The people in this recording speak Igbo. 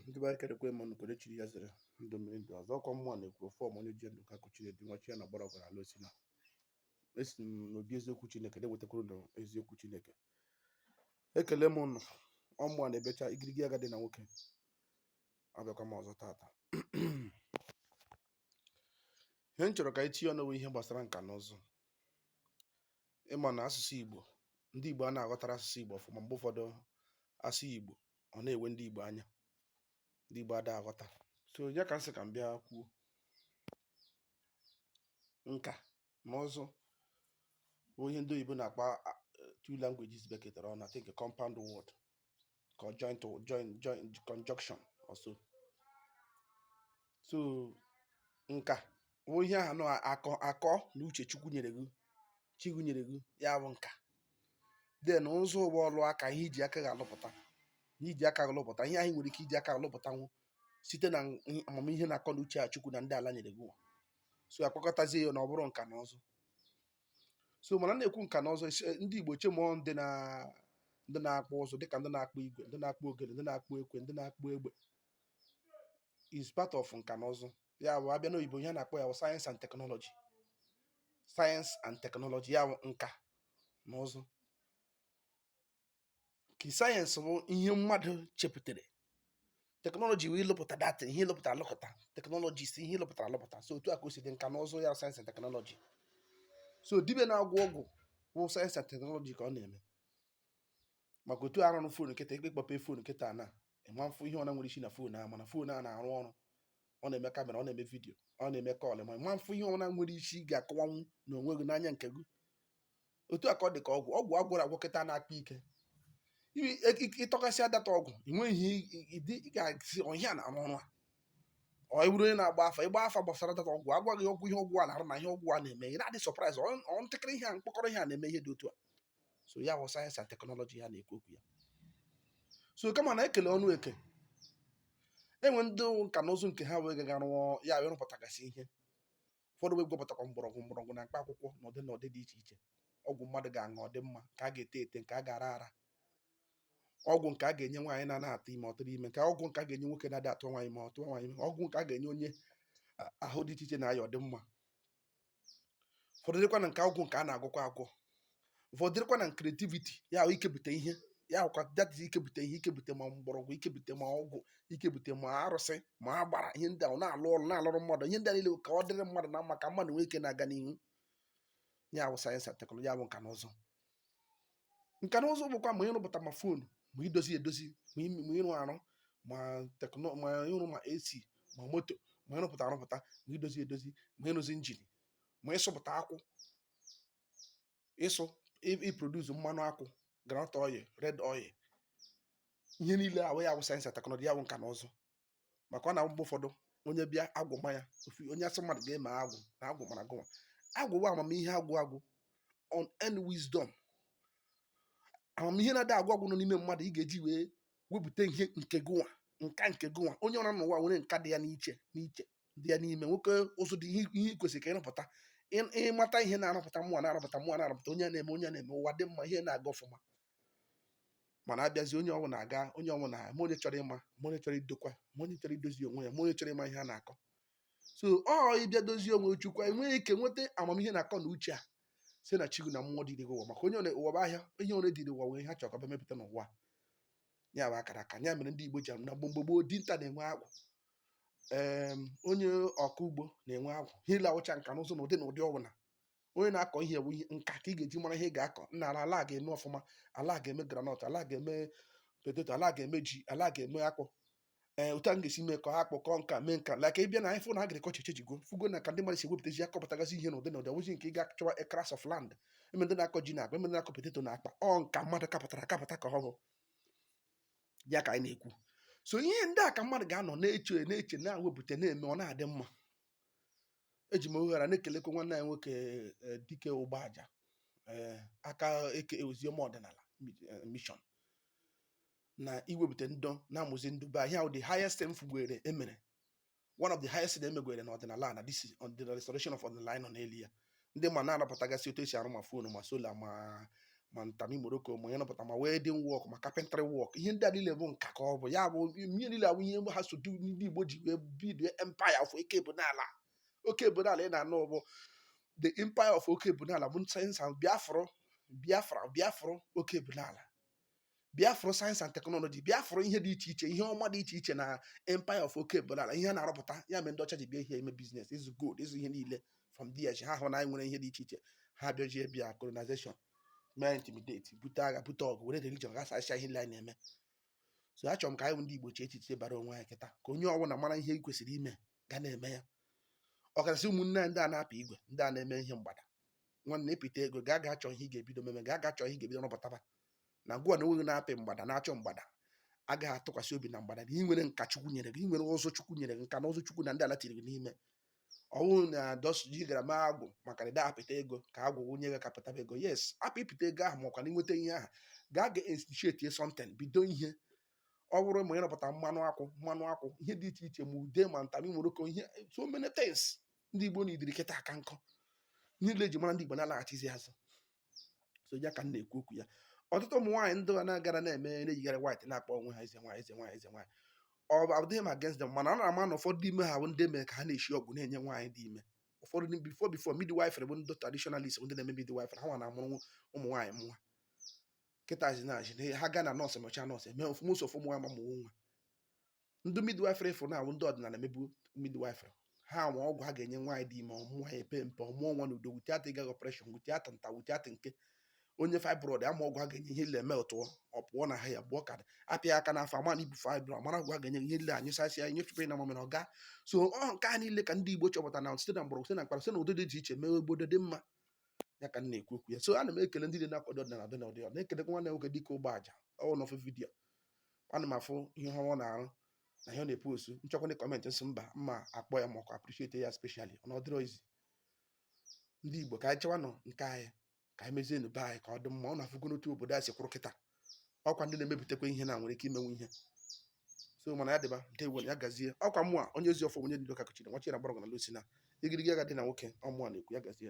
ndị be anyị ekelekwa m ụnụ nke onye chiri ya zere ndụ mmiri ndụ azụ ọkwa mmụọ na-ekwu ọfụma onye ji ndụ ka akụ chiri dị nwa chi ya na-agbara ọgara ala o si na-esi m n'obi eziokwu chineke na-ewetakwuru na eziokwu chineke ekele m ụnụ ọ mụ ọ na-ebecha igirigi agadi na nwoke abịakwa m ọzọ tata ihe m chọ̀rọ̀ kà anyị tinye ọnụ wụ ihe gbàsara ǹkà na ụzụ ị mà nà asụ̀sụ ìgbò ndị ìgbò ana-àghọtara asụ̀sụ ìgbò ọ̀fụ̀ma m̀gbe ụfọdụ a sụọ ìgbò ọ̀ na-èwe ndị ìgbò anya ndị ìgbò ada àghọta so ya kà m sị kà m bịa kwuo ǹkà na ụzụ bụ ihe ndị oyibo na-akpa two languages bekọtara ọnụ I think a compound word ka joint joint joint conjunction or so so nka bụ ihe ahụ nọ akọ akọ na uche chukwu nyere gị chi gị nyere gị ya bụ nka then ụzụ bụ ọlụ aka ihe iji aka ga-alụpụta ihe iji aka ga-alụpụta ihe anyị nwere ike iji aka alụpụtanwu site na amamihe na akọ na uche a chukwu na ndị ala nyere gị so a kpọkọtazie ya ọnụ ọ bụrụ nka na ụzụ so mana m na-ekwu nka na ụzụ esi- ndị Igbo che ma ọ ndị na ndị na-akpụ ụzụ dịka ndị na-akpụ igwe ndị na-akpụ ogene ndị na-akpụ ekwe ndị na-akpụ egbe is part of nka na ụzụ ya bụ a bịa n'oyibo ihe a na-akpọ ya bụ science and technology science and technology ya bụ nka na ụzụ ka science bụ ihe mmadụ chepụtara technology wụ ịlụpụta that ihe lụpụta alụpụta technology is ihe ị lụpụtara alụpụta so otu a ka o si dị nka na ụzụ ya science and technology so dibịa na-agwọ ọgwụ bụ science and technology ka ọ na-eme maka otu a rụrụ phone a kịta ị kpe- kpọpe phone a kịta na ị ma-afụ ihe ọna nwere isi na phone a mana phone a na-arụ ọrụ ọ na-eme camera ọ na-eme video ọ na-eme call ma ị ma-afụ ihe ọna nwere isi ị ga-akọwanwu na onwe gị n'anya nke gị otu a ka ọ dị ka ọgwụ ọgwụ a gwọrọ agwọ kịta na-akpa ike I- e- i- ị tọkasịa that ọgwụ i nweghị ihe i- i- ị ga-asị ọ ihe a na-arụ ọrụ a ọ ị bụrụ onye na-agba afa ịgba afa gbasara that ọgwụ agwa gị ọgwụ ihe ọgwụ a na-arụ na ihe ọgwụ a na-eme ị na-adị surprise ọ ntakịrị ihe a mkpọkọrọ ihe a na-eme ihe dị otu a so ya bụ science and technology a na-ekwu okwu ya so kama na e kele ọrụ eke e nwee ndị nka na ụzụ nke ha wee gaga rụọ ya wee rụpụtagasị ihe ụfọdụ wee gwọpụtakwa mgbọrọgwụ mgbọrọgwụ na mkpa akwụkwọ na ụdị na ụdị dị iche iche ọgwụ mmadụ ga-aṅụ ọ dị mma nke a ga-ete ete nke a ga-ara ara ọgwụ nke a ga-enye nwaanyị na-ana-atụ ime ọ tụrụ ime nke ọgwụ nke a ga-enye nwoke na-adị atụ nwaanyị ime ọ tụọ nwaanyị ime ọgwụ nke a ga-enye onye a- ahụ dị iche iche na-aya ọ dị mma ụfọdụ dịkwa na nke ọgwụ nke a na-agwọkwa agwọ ụfọdụ dịrịkwa na creativity ya wụ ikepụta ihe ya wụkwa data ikepụta ihe ikepụta ma mgbọrọgwụ ikepụta ma ọgwụ ikepụta ma arụsị ma agbara ihe ndị ahụ na-alụ ọrụ na-alụrụ mmadụ ihe ndị a niile ka ọ dịrị mmadụ na mma ka mmadụ nwee ike na-aga n'ihu ya bụ sayensị and teknọlọji ya bụ nka na ụzụ nka na ụzụ bụkwa ma ịrụpụta ma fon ma idozi edozi ma ime- ma ịrụ arụ ma teknọ ma ịrụ ma ac ma moto ma ịrụpụta arụpụta ma idozi edozi ma ịrụzi injin ma ịsụpụta akwụ ịsụ iproduce mmanụ akwụ groundnut oil red oil ihe niile ahụ ya wụ sayensị and teknọlọji ya wụ nka na ụzụ maka ọ na-awụ mgbe ụfọdụ onye bịa agwụ ma ya ofu onye asị mmadụ ga-eme agwụ na agwụ mara gụnwa agwụ bụ amamihe agwụ agwụ unend wisdom amamihe na-adị agwụ agwụ nọ n'ime mmadụ ị ga-eji wee wepụta ihe nke gụnwa nka nke gụnwa onye ọbụla n'ụwa nwere nka dị ya n'iche n'iche dị ya n'ime nwoke ụzụ dị ihe i kwesịrị ka ịrụpụta Ị- ịmata ihe na-arụpụta mụa na-arụpụta mụa na-arụpụta onye na-eme onye na-eme ụwa dị mma ihe na-aga ọfụma mana abịazi onye ọbụna aga onye ọbụna ma onye chọrọ ịma ma onye chọrọ idokwa ma onye chọrọ idozi onwe ya ma onye chọrọ ịma ihe a na-akọ so ọ ịbịa dozie onwe chukwa enwee ike nweta amamihe na akọ na uche a si na chi gụ na mmụọ duru gị ụwa maka onye ọ na- ụwa bụ ahịa ihe onye dịrị ụwa nwere ihe ha chọrọ ka ọ bịa mepụta n'ụwa ya bụ akara aka ya mere ndị Igbo ji anụ na mgbe mgbe gboo dinta na-enwe agwụ onye ọkọ ugbo na-enwe agwụ ha niile awụcha nka na ụzụ na ụdị na ụdị ọbụla onye na-akọ ihe bụ nka ka ị ga-eji mara ihe ị ga-akọ na ala ala ga-eme ọfụma ala ga-eme granọt ala ga-eme poteto ala ga-eme ji ala ga-eme akpụ ee otu a m ga-esi mee ka ha kpọkọọ nka mee nka like ị bịa na ife na agrikọlchọ echejigo fụgo na ka ndị mmadụ si ewepụtazi akọpụtagazi ihe n'ụdị na ụdị ọ wụzi nke ị ga-achọwa acres of land e nwe ndị na-akọ ji na akpa e nwe ndị na-akọ poteto na akpa ọ nka mmadụ kapụtara akapụta ka ọ bụ ya ka anyị na-ekwu so ihe ndị a ka mmadụ ga-anọ na-eche na-eche na-ewepụta na-eme ọ na-adị mma eji m ohere a na-ekelekwa nwanne anyị nwoke eh, Dike Ugboaja eh, aka eke oziọma ọdịnala mi- eh, mission na iwepụta ndọ na-amụzi ndị be anyị ihe the highest m fụgwere e mere one of the highest na emegwere na ọdịnala na this on the restoration of ọdịnala anyị nọ n'elu ya ndị ma na-arụpụtagasị otu esi arụ ma fonu ma sola ma ma ntami moroko ma onye nọpụta ma welding work ma carpentry work ihe ndị a niile bụ nka ka ọ bụ ya bụ ihe niile awụ ihe ha so du ndị Igbo ji wee bido empire of oke bụ n'ala oke bụ n'ala ị na-anụ bụ the empire of oke bụ n'ala bụ sayensị ahụ biafra biafra bịa fụrụ oke bụ n'ala bịa fụrụ sayensị and teknọlọji bịa fụrụ ihe dị iche iche ihe ọma dị iche iche na empire of oke bụ n'ala ihe a na-arụpụta ya mere ndị ọcha ji bịa ime biznes ịzụ gold ịzụ ihe niile from there ha hụ na anyị nwere ihe dị iche iche ha bịajie bịa colonization mee intimidate bute agha bute ọgụ were religion gbasasịa ihe niile anyị na-eme so achọrọ m ka anyị bụ ndị Igbo chee echiche bara onwe anyị kịta ka onye ọbụla mara ihe i kwesịrị ime gaa na-eme ya ọkachasị ụmụnne anyị ndị a na-apị igwe ndị a na-eme ihe mgbada nwanne ị pịta ego gaa ga achọ ihe ị ga-ebido mebe gaa ga achọ ihe ị ga-ebido rụpụtaba na gịwa na onwe gị na-apị mgbada na-achọ mgbada agaghị atụkwasị obi na mgbada na ị nwere nka chukwu nyere gị ị nwere ụzụ chukwu nyere gị nka na ụzụ chukwu na ndị ala tiri gị n'ime ọ wụ na dọsji gara ma agwụ maka na apịta ego ka agwụ nye gị ka ị pịtaba ego yes apụ ị pịta ego ahụ makwa na ị nweta ihe ahụ gaa ga institute something bido ihe ọ bụrụ ma ịrụpụta mmanụ akwụ mmanụ akwụ ihe dị iche iche ma ude ma ntamị moroko ihe so many things ndị Igbo needịrị kịta aka nkọ niile eji mara ndị Igbo na-alaghachizi azụ so ya ka m na-ekwu okwu ya ọtụtụ ụmụ nwaanyị ndị na-agara na-eme na-eyigharị white na-akpọ onwe ha eze nwaanyị eze nwaanyị eze nwaanyị ọ abụdịghị m against them mana a na-ama na ụfọdụ ime ha bụ ndị mara ka ha na-eshi ọgwụ na-enye nwaanyị dị ime ụfọdụ ndị before before midwifery bụ ndị traditionalist bụ ndị na-eme midwifery ha nwa na-amụrụ ụmụ nwaanyị mụ nwa kịta a sị na ha gaa na nọọsụ mechaa nọọsụ eme ofu mụsọ ofu ụmụ nwa ma mụọ nwa ndị midwifery fụrụ na ọ wụ ndị ọdịnala na-emebu midwifery ha nwa ọgwụ ha ga-enye nwaanyị dị ime ọ mụọ ya epe mpe ọ mụọ nwa n'udo without ịgaghị operation without nta without nke onye fibroid ama ọgwụ ha ga-enye ihe ile eme otu ọ pụọ na ha ya gbuọ kadị apịa aka n'afọ ama na i bu fibroid amara ọgwụ ha ga-enye ihe ile anyụsasị ya nyụfụkwa na mamịrị ọ gaa so ọ nke a niile ka ndị Igbo chọpụta na site na mgbọrọgwụ site na mkpara site na ụdị dị iche iche mee obodo dị mma ya ka m na-ekwu okwu ya so ana m ekele ndị dị na-akwado ọdịnala ọdịnala ọdịnala na-ekelekwa nwanne nwoke dịka Ugboaja ọ wụ n'ofe video ana m afụ ihe ọma ọ na-arụ na ihe ọ na-epost m chọkwa ndị comment m sị mba mma akpọ ya makwa appreciate ya specially ọ na ọ dịrọ easy ndị Igbo ka anyị chewanụ nke anyị ka anyị mezienụ be anyị ka ọ dị mma unu afụgo n'otu obodo a si kwụrụ kịta ọkwa ndị na-emepụtakwa ihe na nwere ike imenwu ihe so ụmụnna ya dịba ndewo ya gazie ọkwa mụa onye ezi ọfọ onye dị doka kuchiri nwachi na mgbọrọgwụ na alụsị na igirigi agadi nwoke ọ mụa na-ekwu ya gazie